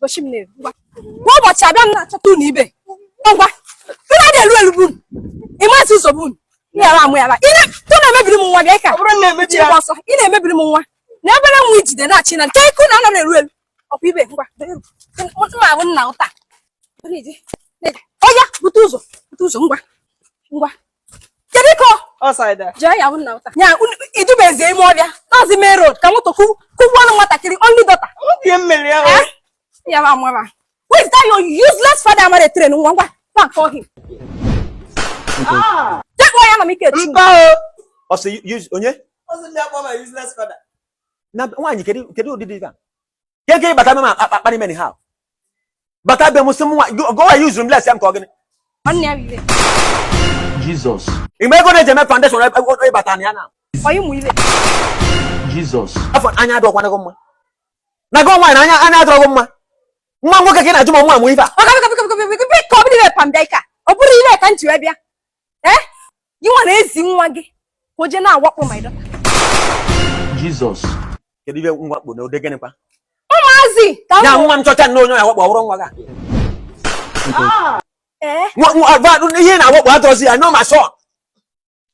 gosi m na-eru ngwa kwa ụbọchị abịa m na-achọta unu ibe ngwa unu adị elu elu bụ unu ịmasị ụzọ bụ unu ịghara amụ yara ị na-emebiri m nwa bịa ka ọsọ ị na-emebiri m nwa na obere nwa ijide na-achị na nke ike unu anara eru elu ọkwa ibe ngwa mma ahụ nna ụta onye bute ụzọ bute ụzọ ngwa ngwa kedu ka i dubezi ime ọhịa nazi main road ka moto kụgbuo ofu nwatakịrị only daughter ya ma mama where is that your useless father amarọ train nwa ngwa go and call him ah. take one ya na m ike mba o onye nwaanyị kedu ụdị dị ife a ya ga ịbata be m akparị m eh ha bata be m sị m nwa gowa ya use m less ya nke ọ gịnị Jizọs mgbe ego na-eji eme foundation ịbata na ya na Jizọs afọ anya adịkwana gị mma na gị nwaanyị na anya anya adịrọ gị mma nwa nwoke ka ị na-ajụ ma nwa amụ ife a ọ bụrọ ile ka m ji wee bịa ee eh? gị nwa na-ezi nwa gị ka o jee na-awakpo my daughter Jizọs kedu ihe na-awakpo na ụdị gịnịkwa ụmụazị ka ya nwa m chọcha nne onye ya wakpo ọ hụrụ nwa gị eh? ihe na-awakpo adịrọzi ya no ma shọ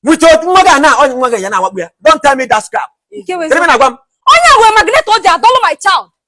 with nwa gị na onye nwa gị ya na-awakpo ya don't tell me that crap onye nwe magnet o ji adọlụ my child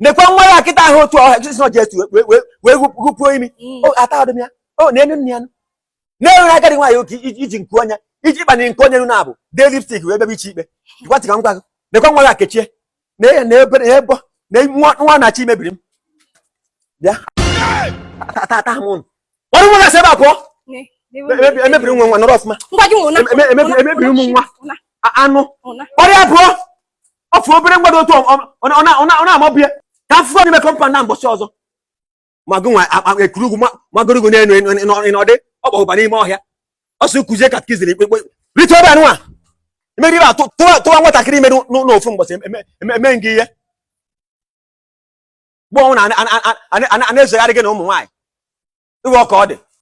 nekwa nwa ya kịta ahụ otu ọ ha just ji etu wee gụpuo imi mm. atahadị m ya o na-enu nne ya na-enwere agadi nwaanyị oke iji nke onye iji ịkpanye nke onye na abụ tee lipstick wee bebe iche ikpe gwatị ka m gwa gị nekwa nwa ya kechie na ya na ebe na ebo na nwa na-achọ imebiri m bịa tata m ụnụ dọrọ nwa gị si ebe a pụọ emebiri nwa nwa nọrọ ọfụma emebiri ụmụ nwa anụ ọhịa abụọ ofu obere mgbada otu ọ na-amọbụ ya ka afụfụ onye mekọ mpa na mbọchị ọzọ magụ nwa ekuru ugwu magoro ugwu n'elu n'ọdị ọ kpọgụba n'ime ọhịa ọ sị kuzie ka kiziri ikpekpe rite ebe anụ a imeri ibe atụ tụwa nwatakịrị ime n'ofu mbọchị emee gị ihe mgbe ọ wụna a na-ezegharị gị na ụmụ nwaanyị iwe ọka ọ dị